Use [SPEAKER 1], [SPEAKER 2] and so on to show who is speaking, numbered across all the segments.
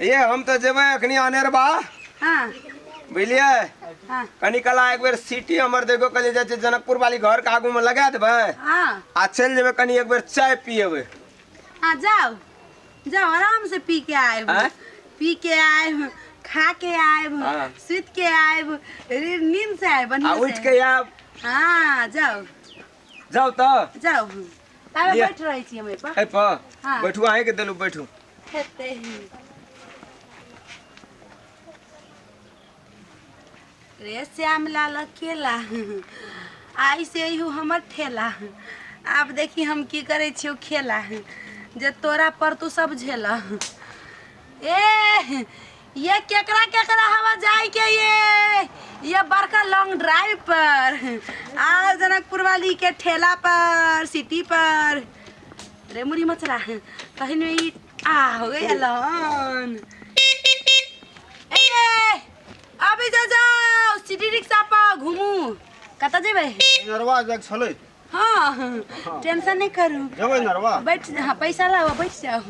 [SPEAKER 1] ये हम तऽ जेबै अखनी अनेरबा हाँ बुझलियै हाँ कनी कला एक बेर सिटी हमर देखो कल जाइ छै जनकपुर वाली घर के आगू में लगा देबै हाँ आ चलि जेबै कनी एक बेर चाय पियेबै हाँ जाओ जाओ आराम से पी के आएब आँय? पी के आएब खा के आएब हाँ। सुत के आएब रे- नींद से आएब आ बढ़िया उठि से के आयब हाँ जाओ जाउ तऽ जाउ हम ताबे लिअ। बैठ रहै छी हम एहिपर एहि पर हाँ। बैठू अहीं के देलू बैठू हेतै रे श्याम लाल अकेला आई से यू हमर ठेला आब देखी हम की करै छियौ खेला जे तोरा पर तू सब झेला ए ये केकरा केकरा हवा जाए के ये ये बड़का लॉन्ग ड्राइव पर आ जनकपुर वाली के ठेला पर सिटी पर रे मुरी मचरा कहीं में ई आ हो गई अल्लाहन ए ये, अभी जा जाओ सिटी रिक्शा पर घूमू कता जेबे नरवा जग छलै हाँ टेंशन नहीं करू जबै नरवा बैठ हाँ पैसा लाओ बैठ जाओ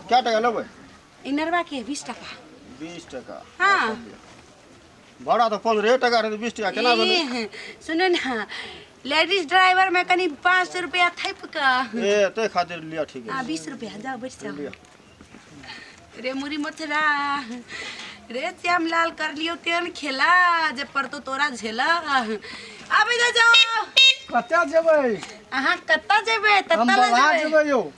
[SPEAKER 1] क्या टका लेबै इनरवा के बीस टका बीस टका हाँ भाड़ा तो पंद्रह टका रहे बीस टका केना भेलै ए, सुनू ना लेडीज ड्राइवर में कनी पाँच सौ रुपया थैप का ए ते खातिर लिया ठीक आ है बीस रुपया जाओ बैठ जाओ लिया रे मुरी मथुरा रे श्याम लाल कर लियो तेन खेला जे पड़तो तोरा झेला आबे जा जाओ कतऽ जेबै अहाँ कतऽ जेबै हम ततऽ बला जेबै जेबै यौ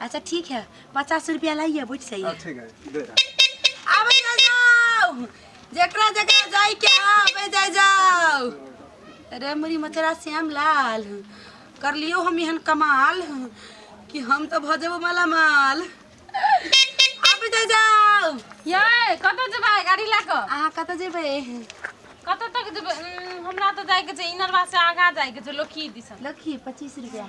[SPEAKER 1] अच्छा ठीक है पचास रुपया लाइए बुझ सही है ठीक है दे दे। आबे जा जाओ जकरा जकरा जाई के हाँ, आबे जा जाओ अरे मुरी मचरा श्याम लाल कर लियो हम एहन कमाल कि हम तो भऽ जेबो माला माल आबे जा जाओ ये कतऽ जेबै गाड़ी लऽ कऽ अहाँ कतऽ जेबै कतऽ तक जेबै उम्म, हमरा तऽ जाइके छै इनरवा से आगाँ जाइके छै लोकी दिसन लखी पच्चीस रुपया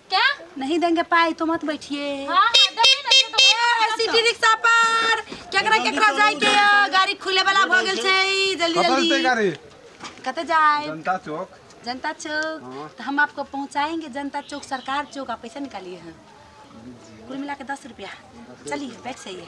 [SPEAKER 1] क्या नहीं देंगे पाई तो मत बैठिए हाँ हाँ देबे ना दे दो ए, सिटी रिक्शा पर केकरा केकरा जाए के ह? गाड़ी खुले वाला भ गेल छै जल्दी कतऽ जल्दी जेतै गाड़ी कते जाए जनता चौक जनता चौक हाँ। तो हम आपको पहुंचाएंगे जनता चौक सरकार चौक आप पैसा निकालिए हैं कुल मिला के दस रुपया चलिए बैठ जाइए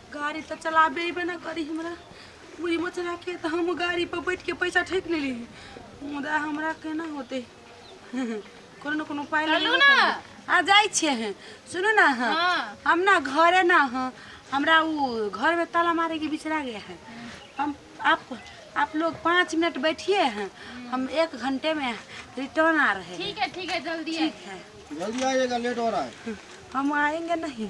[SPEAKER 1] गाड़ी तऽ चलाबे अयबे ने करी हमरा पूरी मचराके तऽ हम गाड़ी पर बैठ के पैसा ठेक ले ली मुदा हमरा केना होते कोनो ने कोनो पाइ चलू ना। आ जाइ छियै हैं सुनू ना हाँ। हाँ हम ना घरे ना हाँ हमरा वो घर में ताला मारे के बिचरा गया है हम आप आप लोग पाँच मिनट बैठिए हैं हम एक घंटे में रिटर्न आ रहे हैं ठीक है ठीक है जल्दी ठीक है जल्दी आइएगा लेट हो रहा है हम आएंगे नहीं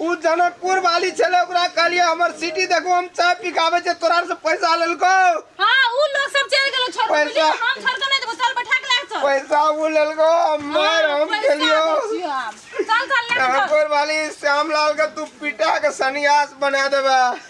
[SPEAKER 1] उ जनकपुर वाली छले ओकरा कहलिए हमर सिटी देखो हम चाय पिकावे छे तोरा से पैसा लेलको हां उ लोग सब चल गेलो छोड़ पैसा हम छोड़ के नहीं देबो चल बैठा के लाग चल पैसा उ लेलको हमर हाँ, हम खेलियो चल चल लाग चल जनकपुर वाली श्यामलाल के तू पिटा के सन्यास बना देबे